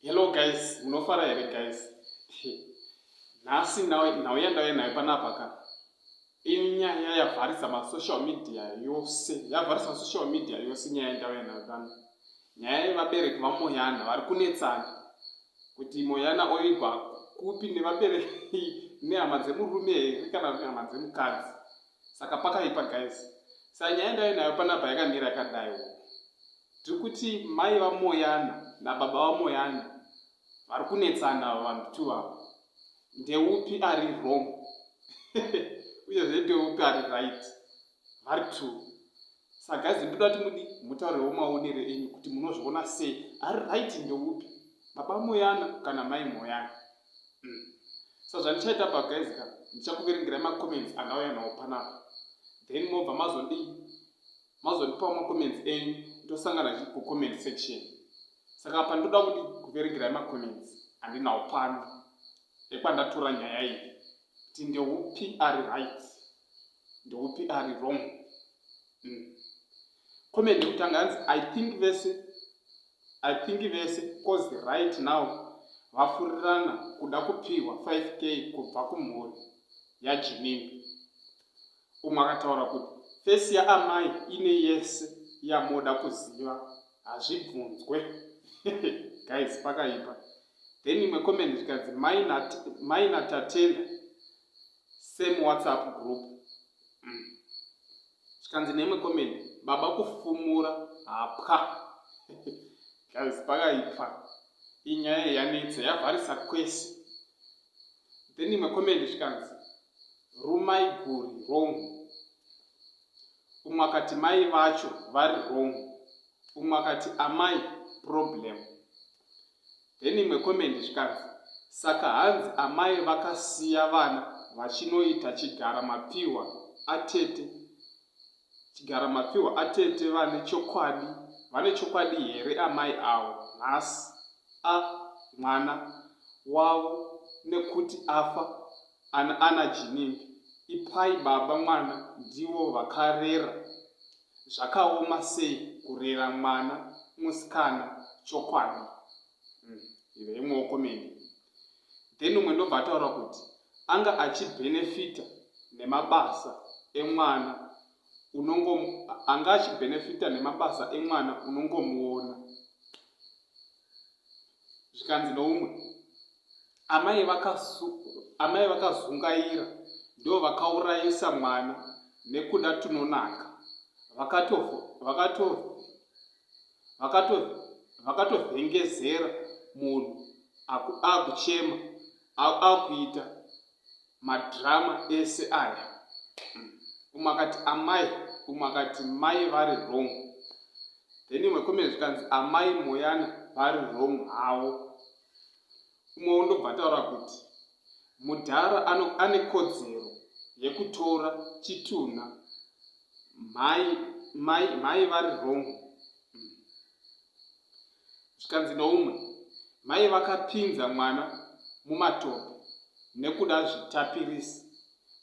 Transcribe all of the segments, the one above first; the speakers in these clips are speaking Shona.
Hello guys, munofara here guys? Nhasi nhau yandauya nayo panapa ka inyaya yavharisa masocial media yose yavharisa masocial media yose nyaya yandauya nayo pano nyaya yevabereki vamoyana vari kunetsana kuti moyana oigwa kupi nevabereki nehama dzemurume here kana kuti hama dzemukadzi saka pakaipa guys sa nyaya ndaive nayo panapa yakamira yakadai wo tiri kuti mai vamoyana nababa vamoyana vari kunetsana ava vanhu two ava ndeupi ari wrong uye zve ndeupi ari right vari two Saka guys ndoda kuti mudi mutaurewo maonero enyu kuti munozviona sei ari right ndeupi baba moyana kana mai moyana mm. so zvandichaita pa guys ka ndichakuverengerai macomments andauya nawo panapa then mobva mazodii mazondipawo macomments enyu ndosangana chi kucomment section saka apa ndoda kuti kuverengerai macomments andinawo pano ekwandatora nyaya iyi kuti ndeupi ari right ndeupi ari wrong mm. comment yekutanga hanzi i think vese i think vese cause right now vafurirana kuda kupihwa 5k kubva kumhuri yajinini umwe akataura kuti fesi yaamai ine yese yamoda kuziva hazvibvunzwe guys pakaipa then imwe comment zvikanzi maina tatenda same whatsapp group zvikanzi mm. neimwe comment baba kufumura hapwa guys pakaipwa inyaya yanetsa yavharisa kwese then imwe comment zvikanzi rumai guri wrong umwe akati mai vacho vari wrong umwe akati amai problem then imwe comment zvikanzi saka hanzi amai vakasiya vana vachinoita chigara mapfihwa atete chigara mapfihwa atete vane chokwadi vane chokwadi here amai awo nhasi a mwana wavo nekuti afa ana ana jinini ipai baba mwana ndivo vakarera zvakaoma sei kurera mwana musikana chokwadi hmm, ive imwewo komedi then umwe ndobva ataura kuti anga achibenefita nemabasa emwana unongo anga achibenefita nemabasa emwana unongomuona zvikanzi noumwe amai amai vakazungaira ndo vakaurayisa mwana nekuda tunonaka vakatovhengezera munhu akuchema akuita Madrama ese aya umwe akati amai umwe akati mai vari wrong then imwe comment zvikanzi amai moyana vari wrong havo umwe wondobva ataura kuti mudhara ane kodzero yekutora chitunha mai mai mai vari wrong zvikanzi noumwe mai vakapinza mwana mumatope nekuda zvitapirisi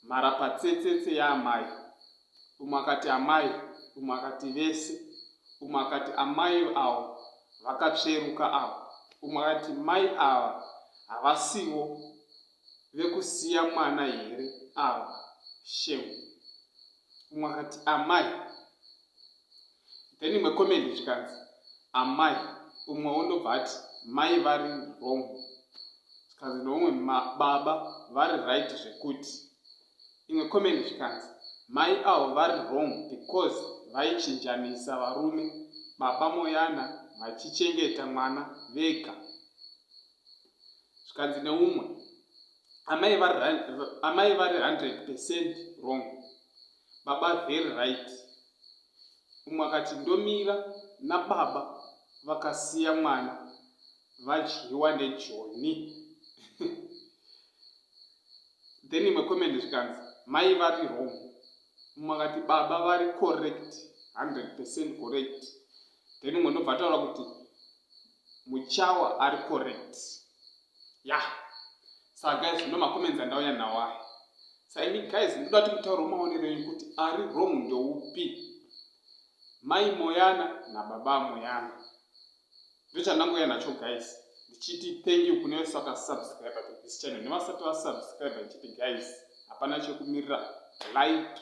mharapatsetsetse yaamai umwe akati amai umwe akati vese umwe akati amai avo vakatsveruka avo umwe akati mai ava havasiwo vekusiya mwana here ava shemu umwe akati amai then imwe comment zvikanzi amai umwe wondobva ati mai vari wrong zvikanzi neumwe baba vari right zvekuti imwe comment zvikanzi mai avo vari wrong because vaichinjanisa varume baba moyana vachichengeta mwana vega zvikanzi neumwe amai vari 100 percent wrong baba very right umwe akati ndomira nababa vakasiya mwana vadyiwa nejoni then imwe comment zvikanzi mai vari wrong umwe akati baba vari correct 100 percent correct then umwe ndobva ataura kuti muchawa ari correct ya yeah. saa guys ndo macomments andauya nawo aya sa ini guys ndoda kuti mutauro maonero enyu kuti ari wrong ndoupi mai moyana nababa moyana ndochandangoya nacho guys ndichiti thank you kune vese vakasubscribe to this channel nevasati vasubscribe ndichiti guys hapana chekumirira like